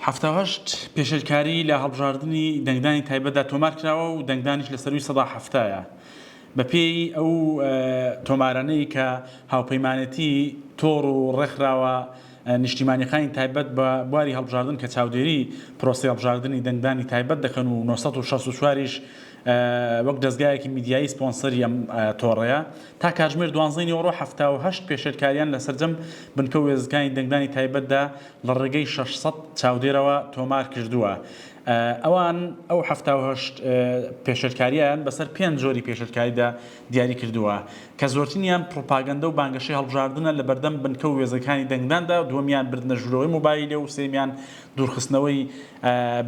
حەفتا و هەشت، پێشێلکاریی لە هەڵبژاردنی دەنگدانی تایبەتدا تۆمار کراوە و دەنگدانیش لە سەرووی سەدا حەفتایە. بەپێی ئەو تۆمارانەی کە هاوپەیمانێتی تۆڕ و ڕێکخراوە نیشتیمانیەکانی تایبەت بە بواری هەڵبژاردن کە چاودێری پرۆسەی هەڵبژاردنی دەنگدانی تایبەت دەکەن و نۆ سەد و شەست و چوار یش وەک دەزگایەکی میدیایی سپۆنسەری ئەم تۆڕەیە، تا کاتژمێر دوانزەی نیوەڕۆ حەفتا و هەشت پێشێلکاریان لە سەرجەم بنکە و وێستگەکانی دەنگدانی تایبەتدا لە ڕێگەی شەش سەد چاودێرەوە تۆمار کردووە. ئەوان ئەو حەفتا و هەشت پێشێلکارییەیان بەسەر پێنج جۆری پێشێلکاریدا دیاری کردووە، کە زۆرترینیان پڕوپاگەندە و بانگەشەی هەڵبژاردنە لە بەردەم بنکە و وێزەکانی دەنگداندا، دووەمیان بردنە ژوورەوەی مۆبایلە و سێیەمیان دوورخستنەوەی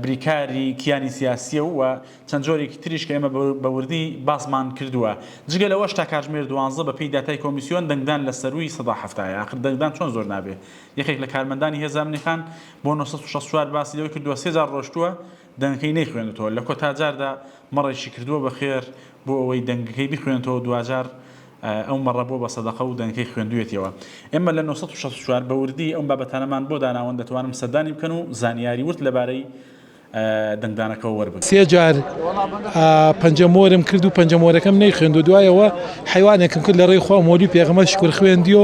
بریکاری کیانی سیاسییە و چەند جۆرێکی تریش کە ئێمە بە وردی باسمان کردووە. جگە لەوەش تا کاتژمێر دوانزە بەپێی داتای کۆمیسیۆن دەنگدان لە سەرووی سەدا حەفتا یە، ئاخر دەنگدان چۆن زۆر نابێ یەکێک لە کارمەندانی هێز ئەمنی خان بۆ نۆ سەد و شەست و چوار باسی لەوەی کردووە، سێ جار ڕۆشتووە دەنگەکەی نەیخوێندووتەوە، لە کۆتا جاردا مەڕێکی کردووە بە خێر بۆ ئەوەی دەنگەکەی بخوێنێتەوە و دواجار ئەو مەڕە بووە بە سەدەقە و دەنگەکەی خوێندوویەتیەوە. ئێمە لە نۆ سەد و شەست و چوار بە وردی ئەم بابەتانەمان بۆ داناون دەتوانن سەردانی بکەن و زانیاری ورد لەبارەی. دەنگدانەکەوە وەربگرن. سێ جار پەنجە مۆرم کرد و پەنجە مۆرەکەم نەیخوێند و دوایەوە حەیوانێکم کرد لە ڕێی خوا مۆلی پێغەمبەر شکور خوێندی و